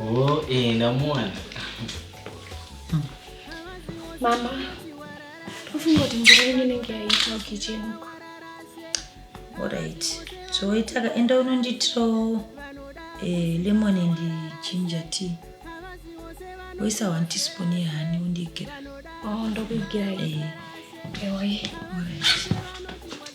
Oh, eh, ndamuwana. Mama, ufunga kuti mvura yenyu inenge yaita ukitchen uko. Alright. Zvoitaka enda unonditirawo eh, lemon and ginger tea. Woisa one teaspoon yehani undigira. Oh, ndokuigirai. Eh, Ewa ye. alright.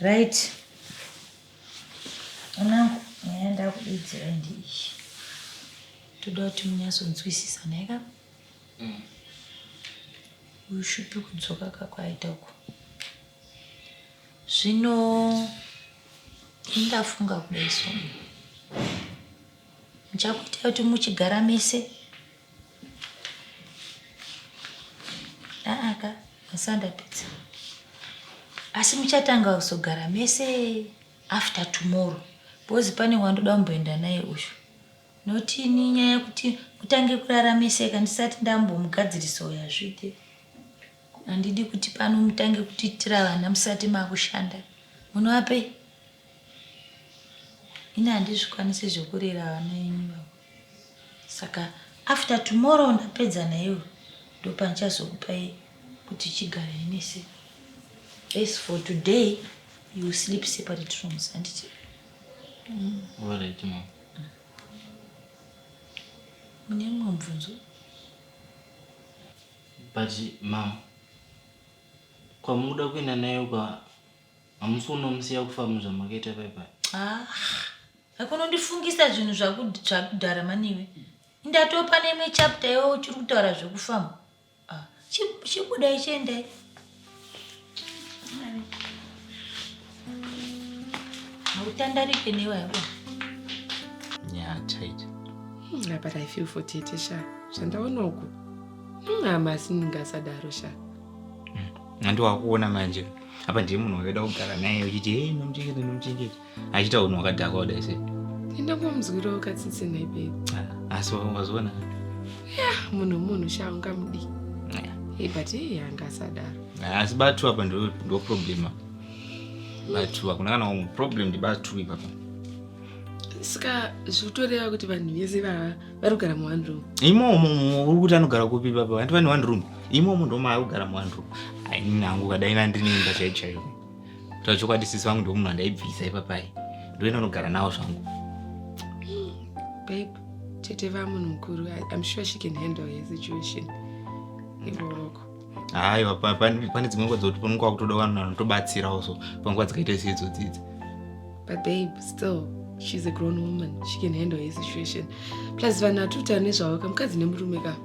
right anangu nyaya ndakudidzira ndi izvi toda kuti munyatsonzwisisa naika mm. uyu shupi kudzoka kakwaita uko zvino indafunga kudai so muchakuita kuti muchigara mese aa ka mazuva ndapedza asi muchatanga kuzogara mese after tomorrow because pane wandoda kumboenda naye uyu notini nyaya yekuti kutange kurara mese ka ndisati ndambomugadzirisa uyo hazviite handidi kuti pano mutange kutiitira vana musati makushanda munovapei ini handizvikwanise zvekurera vana venyu vavo saka after tomorrow ndapedza naiwe ndopandichazokupai kuti chigare nese as for today you will sleep separate rooms handiti mm. mune mumwe mubvunzo but mam kwamukuda kuenda nayo kwa hamusi kunomusiya kufamu zvamakaita paipai ah akunondifungisa zvinhu zvakudhara maniwe ndatopa neimwe chapter iwe uchiri kutaura zvekufamu ah, chibuda ichiendai hautandarike newe yabo yeah tight mm, but i feel for tete sha zvandaona uku mm, hamasi ndingasadaro sha Nandi wakuona manje apa ndiye munhu wakaida kugara naye uchiti hei nomuchengeta nomuchengeta achiita unhu wakadhakwa kudai se ndindangomunzwirawo katsitsi nhai babe ah, asi wazoona munhu munhu sha ungamudii hey, but hey, anga asadaro ah, asi batu apa ndo problema batu hakuna kana umwe problem ndibatu ipapa saka zvitoreva kuti vanhu vese vava Vanogara mu one room. Imomo uri kuti anogara kupi baba? Vantu vane one room. Imomo ndo maari kugara mu one room. Ai nini hangu kadai na ndine imba chaiyo chaiyo. Kuti chokwadi sisi vangu ndomunhu andaibvisa ipapa ai. Ndo ina nogara nawo zvangu. Babe, tete va munhu mukuru. I'm sure she can handle his situation. Ivo wako. haiwa pane dzimwe nguva dzokuti panenge kwakutoda vanhu vanotobatsirawo so panguva dzakaita seidzo dzidzi but babe still she's a grown woman she can handle her situation plus vanhu hatuta nezvavo ka mukadzi nemurume ka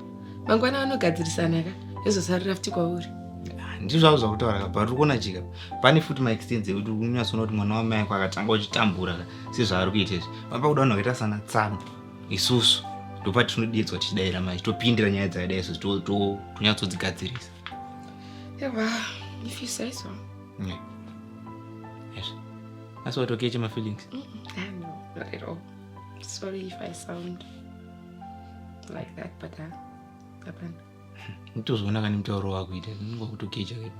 mangwana vanogadzirisana ka ezosarira futi kwauri ah, ndizvavo zvakutaura ka but ukuona chika pane futi maextense ekuti unyatsoona kuti mwana wamai kwakatanga uchitambura ka sezvaari kuita izvi vanopa kuda vanhu vakaita sana tsano isusu ndopatinodeedzwa tichidaira manje topindira nyaya dzakadai so tonyatsodzigadzirisa asi watokeche mafeelings nditozoona kani mutauro wakuita ndinonga kutokecha kedu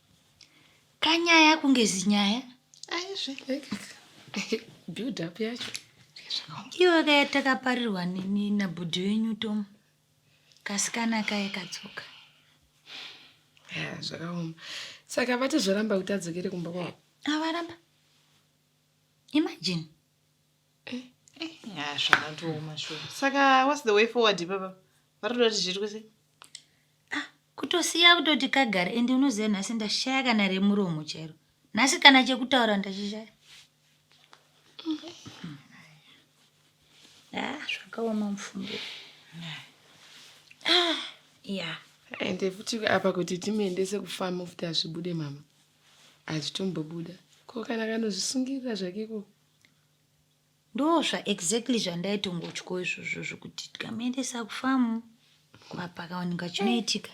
Kanyaya kunge zinyaya. Aizve. Build up yacho. Iwe kaya takaparirwa nini nabhudhi wenyu Tom. Kasikana kaye katsoka. Yeah, zvakaoma. Saka vati zvoramba kuti adzokere kumba kwavo. Avaramba. Imagine. Eh, eh, ah, zvakatooma shuwa. Saka what's the way forward ipapa? Varikuda kuti zviitwe sei? kutosiya kutoti kagare ende unoziva nhasi ndashaya kana remuromo chairo nhasi kana chekutaura ndachishaya Mm. Ah, zvakaoma mufumbo Ah, ya Ende futi apa kuti timuendese kufamu futi azvibude mama. Azvitombobuda. Ko kana kanozvisungirira zvake ko ndozva exactly zvandaitongotyo izvozvo zvokuti tikamuendesa kufamu pakaoneka chinoitika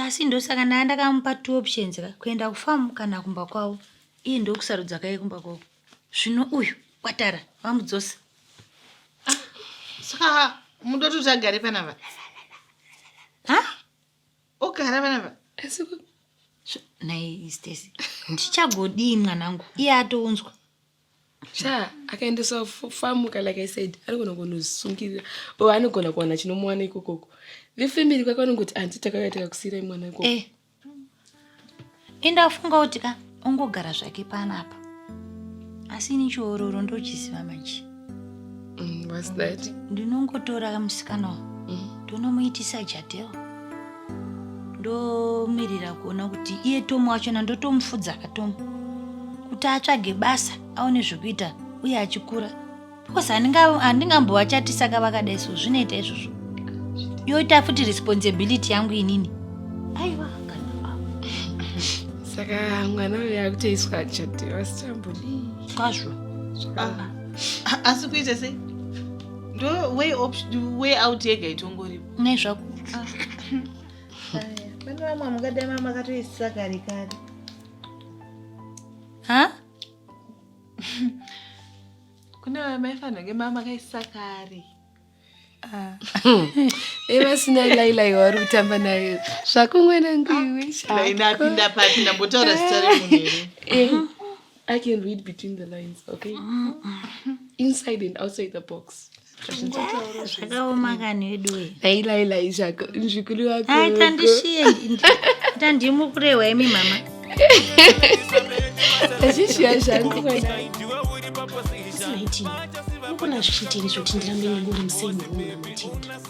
asi ndosaka ndaa ndakamupa two options ka kuenda kufamu kana kumba kwavo iye ndokusarudza kaye kumba kwavo zvino uyu kwatara vamudzosa ah, saka mudoti kuti agare panava ha ogara vana va asi ku- So, naye stesi ndichagodii mwanangu iye atounzwa sha akaendeswa fu- famuka like i said anogona kunosungirira or anogona kuwana chinomuwana ikokoko vefamily kwake vanongoti anti takauya takakusiirai mwana ikoko eh enda afunga kuti ka ongogara zvake panapa asi ini chiororo ndochiziva manje mm, what's that ndinongotora musikana wa mm. ndonomuitisa jadel ndomirira kuona kuti iye tomu wachona ndotomufudza ka tomu kuti atsvage basa aone zvekuita uye achikura because handingambovachatisa ka vakadai so zvinoita izvozvo yoita futi responsibility yangu inini aiwa saka mwana uyo akutoiswa achatiwa sichambudi kwazvo asi kuita sei ndo way, way out yega itongoripo ne zvako ah. pane vamwe mukadai mama makatoisisa kare kare ha kune vaya maifanirwa kunge mama kaisa kare evasina ah. lailai wauri kutamba nayo zvakunwenanguiweinapinda ah. papi ndambotaura zita remunhu eh, i can read between the lines okay inside and outside the box zvakaoma kani veduwe ailailai zvako nzvikuri wako tandishiye tandimukurewa imi mama azvishiya zvangu unogona zvichitini zvoti ndirambe nengori museni unamatenda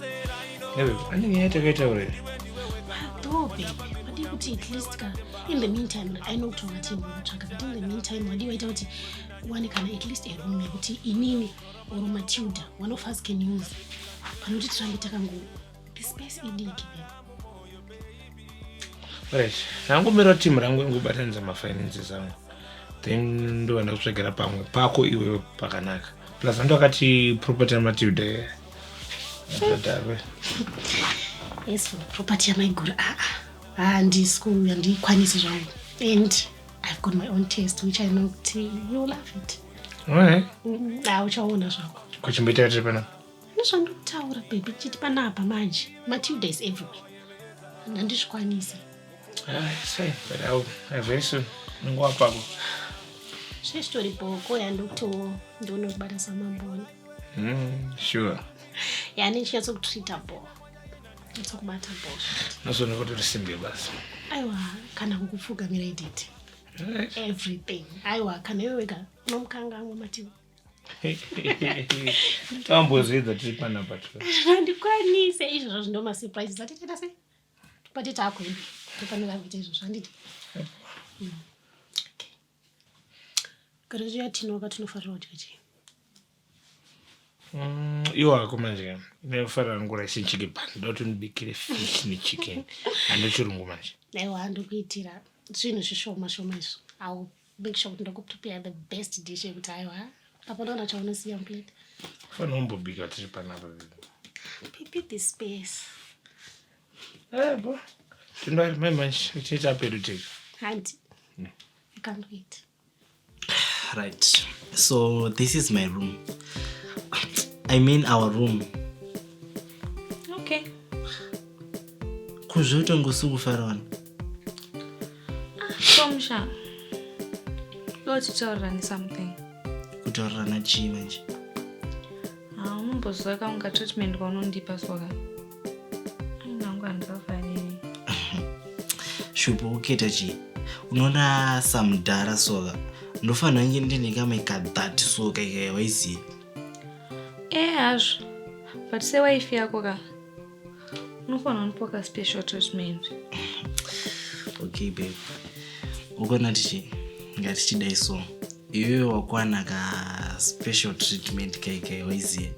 ane nyaya yatakaitaura madobe wadii kuti at least ka in the meantime i know kuti ungatii kutsvaga but in the meantime wadii waita kuti uwane kana at least a room yekuti inini or matilda one of us can use panoti tirambe takango the space idiki right ndangomira team rangu ingobatanidza mafinances angu then ndova ndakutsvagera pamwe pako iwe pakanaka plus anto akati property yamatilda adave yes property yamaiguru aa ah, ah. handisku ah, handikwanisi zvangu and I've got my own taste which I know kuti you will love it. Alright. Mm, ah, uchaona zvako. Kuchimboita tiri panapa. Nezvandikutaura baby chiti panapa manje. Matilda is everywhere. And andizvikwanisi. Ah, it's fine, but I'll, I'll very soon. Nguva pako. Zvestori bhoko yandokutowo ndonokubata samamboni. Mm, sure. Yani chinyatso kutreater bhoko. kubata bullshit nazvona kuti uri single basi aiwa kana kukupfugamira iditi everything aiwa kana iwe wega unomukangamwa mativi tambozvidza tiri panapa handikwanise izvozvo zvindo masurprises atitenda sei pati taakuenda tofanira kuita izvozvo handiti Kana zviya tinoka tinofarira kudya chii? Mm, iwo ako manje ndinofarira ngura chii chicken pan ndoti ndibikire fish nechicken hando chirungu manje Aiwa handokuitira zvinhu zvishoma shoma izvo. I'll make sure kuti ndakupropia the best dish yekuti aiwa hapana kana chaunosiya muplate. fanira kumbobika tiri panapa Pipi this space. Tindari mai manje tiita pedu tiri. Hanti. Hmm. I can't wait. Right. So this is my room. I mean our room. Okay. Kuzvoita ngosuku farawana. Ah, Komsha. Loti taurirani something. Kutaurirana chii manje? Ah, umboziva kaunga treatment kwaunondipa soka. shupo uketa chii unoona samudhara soka ndofanira nge ndine kame kadhati soka ikaya waiziva e eh, hazvo but sewaifi yako ka unofanira unipo ka special treatment okay babe ukona tichi ngatichidai so iwewe wakwana ka special treatment kaikai waiziva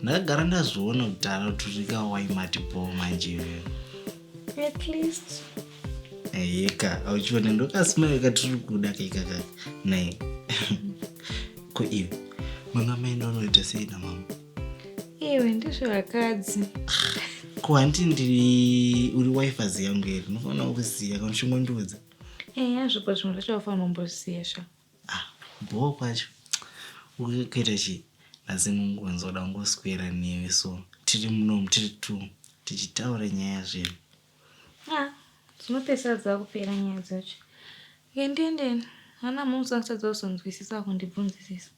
ndakagara ndazoona kuti anoturika waimati bho manje at least yeka auchiona ndokasmayo katiri kuda kaikaka naye ko iwe mwana maenda unoita sei namama iwe ndizvo vakadzi ko hanti ndiri uri wifazi yangu here unofanira kuziva kana uchingondiudza eya zvopa zvimwe zvacho vafanira umboziva shaa Ah bhoo kwacho uye kuita chii nhasi mungu nzoda kungoswera newe so tiri munomu tiri two tichitaura nyaya zvedu. Ah dzinopedzisa dzakupera nyaya dzacho. Ke ndiendeni ana mhungu dzangu dzisati dzazonzwisisa kundibvunzisisa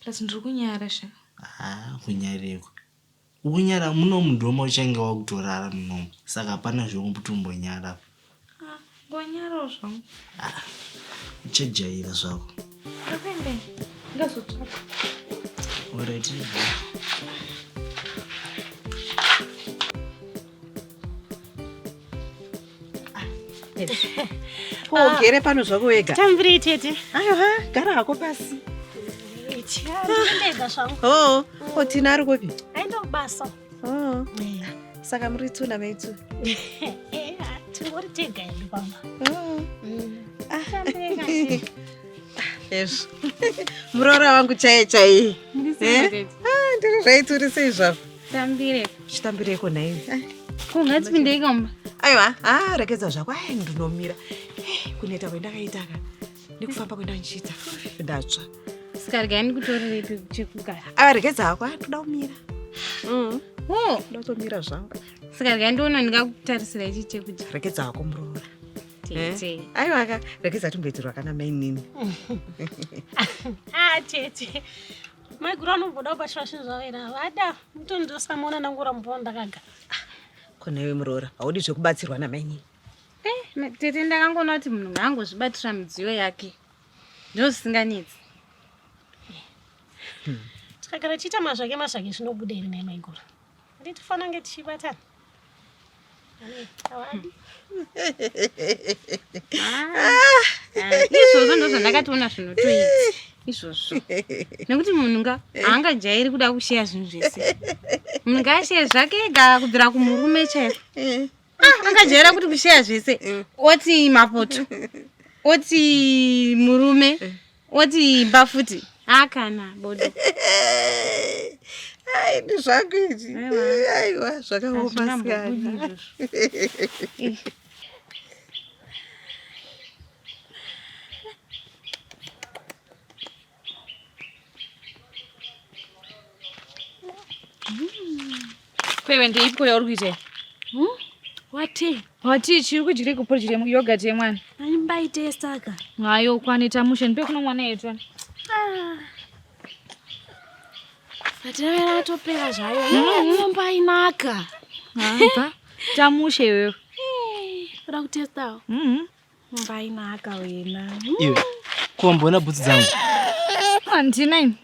plus ndiri kunyara sha. Ah kunyarirwa. Ukunyara muno mudhoma uchange wakutorara munomu saka hapana zvekuti umbonyara apa. Ah, ngonyarawo zvangu. Ah, uchajaira zvako. Ndapende, ndazotsvaka. Alright. Ko ah. ugere pano zvako wega. Tambiri tete. Ayo ha, gara hako pasi. Ndega zvangu. Oh, ko oh, Tina ari kupi? Aenda kubasa. Oh. Eh. Saka muri tu na mai tu. Eh, ah, tingori tega hedu pamba. Oh. Mm. Ah. Yes. Muroora wangu chaiye chaiye. Eh? Ah, ndiri zvaiturisei zvavo. tambire chitambireko nhai eh, kungatipindei kamba aiwa a ah, rekedza zvako ai ndinomira eh, kuneta kwendakaitaka ndikufamba kwenda ndichiita ndatsva saka regai ndikutorirepi chekugara a ah, rekedza hako a toda kumira mm. oh. ndotomira zvangu saka regai ndiona ndingakutarisira ichi chekudya rekedza hako muroora tete eh? aiwaka rekedza tumboitirwa kana mainini ah tete maiguru anomboda kubatira zvinhu zvavo here havada mutoni ndosamuona ndangura mumba wandakaga ah, konewe muroora haudi zvekubatsirwa namainini eh, tete ndakangoona kuti munhu ngaangozvibatira midziyo yake ndo zvisinganetsi hmm. tikagara tiita mazvake mazvake zvinobuda here naye maiguru Kuti tifana nge tichibatana. Izvozvo ndozvo ndakatoona zvinotoita izvozvo nekuti munhu nga haangajairi kuda kusheya zvinhu zvese munhu ngaasheya zvake ega kubvira kumurume chaiko ah, angajaira kuti kusheya zvese oti mapoto oti murume woti imba futi hakana bodo ai ndi zvako izvi aiwa zvakaoma sikana Kwewe ndeipiko yauri kuita iyi? Hmm? Wati? Wati chiri kudyire kupo chiri yogurt yemwana. Ani mbaite saka. Hayo kwani tamushe ndipe kuno mwana yetu. Ah. Atavera atopera zvayo. Hmm. Nyumba inaka. Hamba. Tamushe wewe. Kuda kutestawo. Mhm. mbainaka wena iwe kuwamboona bhutsi dzangu handina ini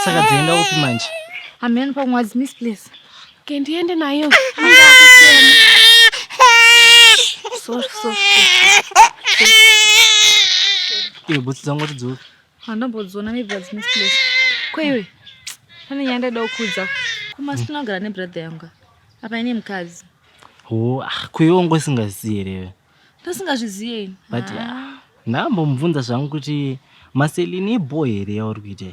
saka dzaenda upi manje hameno pamwe wadzimisi place ke ndiende nayo iwe bhutsi dzangu watidzoa handambodziona maybe wadzimisi place ko iwe pane nyaya ndaida kukuudza kumasina kugara nebrother yanga apa ine mukadzi ho ah, kuiwe wanga usingazivi here ndosingazviziye ini but ah. ndambomubvunza zvangu kuti maselini ibho here yauri kuita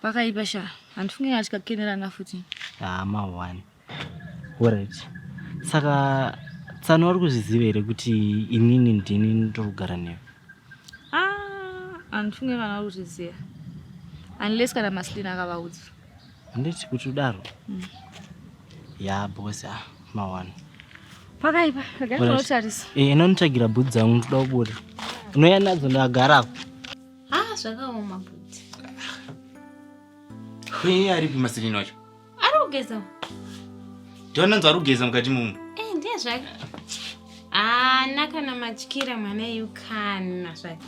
pakaipa sha handifunge kana tikakenerana futi hama ah, one orit saka tsano wari kuzviziva here kuti inini ndini ndokugara newe ah, handifunge kana uri kuzviziva unless kana maselini akavaudza Handiti kuti udaro? Mm. Ya boss ah mawana. Pakaipa, gari unotarisa. Eh, inonitsvagira bhudzi dzangu ndoda kubuda. Unouya nadzo ndagara apo. Ah, zvakaoma bhudzi. Kwenye aripi masilini wacho? Ari kugeza. Ndonanzwa ari kugeza mukati mumu. Eh, ndiye zvake. Ah, nakana matyira mwana yukana zvake.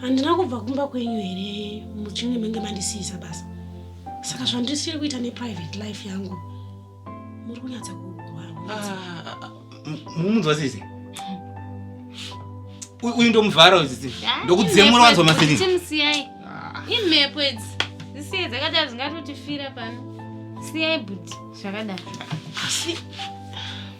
handina kubva kumba kwenyu here muchinge menge mandisiisa basa saka zvandisiri kuita neprivate life yangu muri kunyatsa kumunzwa ah, sisi uyu ndomuvhara uyu sisi ndokudzemura wanzwa masirimusiyai ah. imhepo idzi zisiye dzakadaro dzingatotifira pano siyai but zvakadaro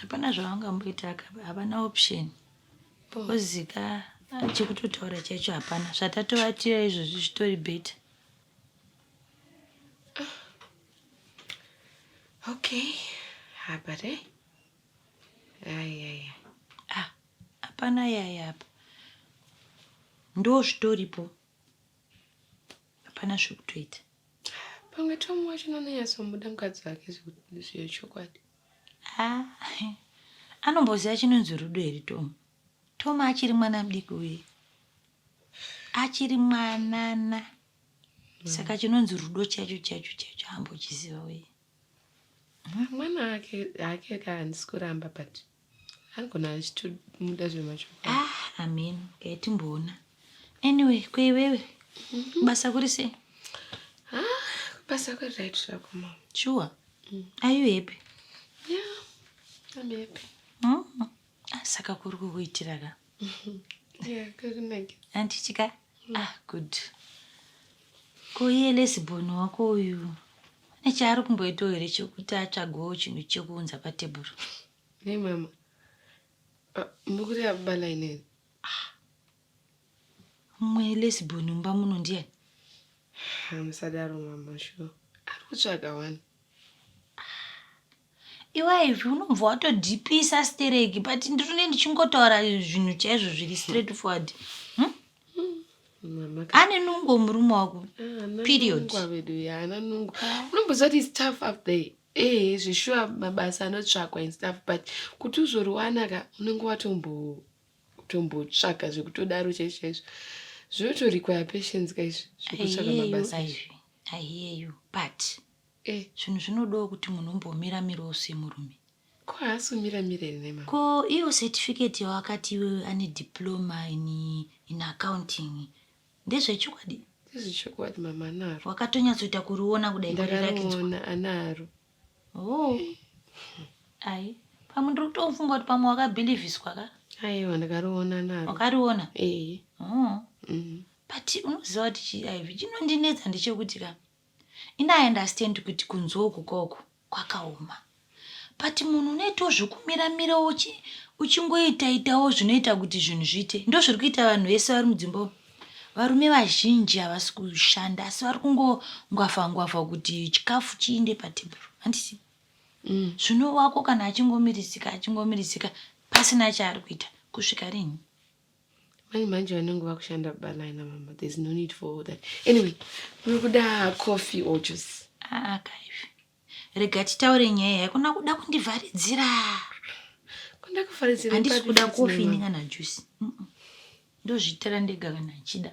hapana zvavangamboita ka havana option because ka ah, chekutotaura chaicho hapana zvatatovatira izvozvi zvitori better okay habare eh? ayaya ah hapana yaya apa ndo zvitoripo hapana zvekutoita pamwe tomu wacho nononyatsomuda mukadzi wake zviyo chokwadi ah, anomboziva chinonzi rudo here tomu tomu achiri mwana mudiki uye achiri mwanana mm. saka chinonzi rudo chacho chacho chacho ambochiziva uye mwana ake ake kahandisi kuramba but anogona achitomuda zvemachokwadi ah amen okay timboona anyway kweiwewe mhm. basa kuri sei ah basa kuri right zvako ma sure mm. are you happy yeah i'm happy mm -hmm. saka kuri kukuitira ka andichika mm. ah good ko iye lesiboni wako uyu ane chaari kumboitawo here chokuti atsvagawo chinhu chekuunza patebhuru ne mama ah, mukuri abala ineni ah. mumwe lesiboni mumba muno ndiyani hamusadaro mama shuwa ari kutsvaga wani Iwe Ivy unobva watodhipisa stereki but ndiri ndichingotaura zvinhu chaizvo zviri straight forward. Hmm? Mama ka- Ane nungo murume wako. Ah, ana Period. nungu avedu ya ana nungu unomboziva kuti its tough up there ehe zveshuwa mabasa anotsvakwa and stuff but kuti uzoriwana ka unenge watombo- tombotsvaga zvekutodaro chaizvo chaizvo zvinotorikwaya patience ka izvi zvekutsvaga Ayeyo mabasa izvi Ivy. I hear you but Eh, zvinhu zvinodawo kuti munhu umbomira mirawo semurume. Ko haasi kumira mira here mama? Ko iyo certificate yawakati iwewe ane diploma in, in accounting ndezvechokwadi? Ndezvechokwadi mama anaro. Wakatonyatsoita kuriona kudai ndakariona anaro. Oh. Ai, pamwe ndiri kutofunga kuti pamwe wakabhilivhiswa ka? Aiwa ndakariona naro. Wakariona? Eh. Oh. Mm. But unoziva kuti chiIV chinondinetsa ndechekuti ka In I understand kuti kunzwa uku koko kwakaoma but munhu unoitawo zvekumira mira uchi uchingoita itawo zvinoita kuti zvinhu zviite ndozviri kuita vanhu vese vari mudzimba umu varume vazhinji havasi kushanda asi vari kungongwavha ngwavha kuti chikafu chiinde patebhuru handisi mm. zvino wako kana achingomirisika achingomirisika pasina chaari kuita kusvika rinhi manje manje vanenge vakushanda baba nai namama there's no need for all that anyway muri kuda coffee or juice aa ah, kaivi rega titaure nyaya haikuna kuda kundivharidzira kundakuvharidzira handisi kuda coffee ini kana juice ndozviitira ndega kana achida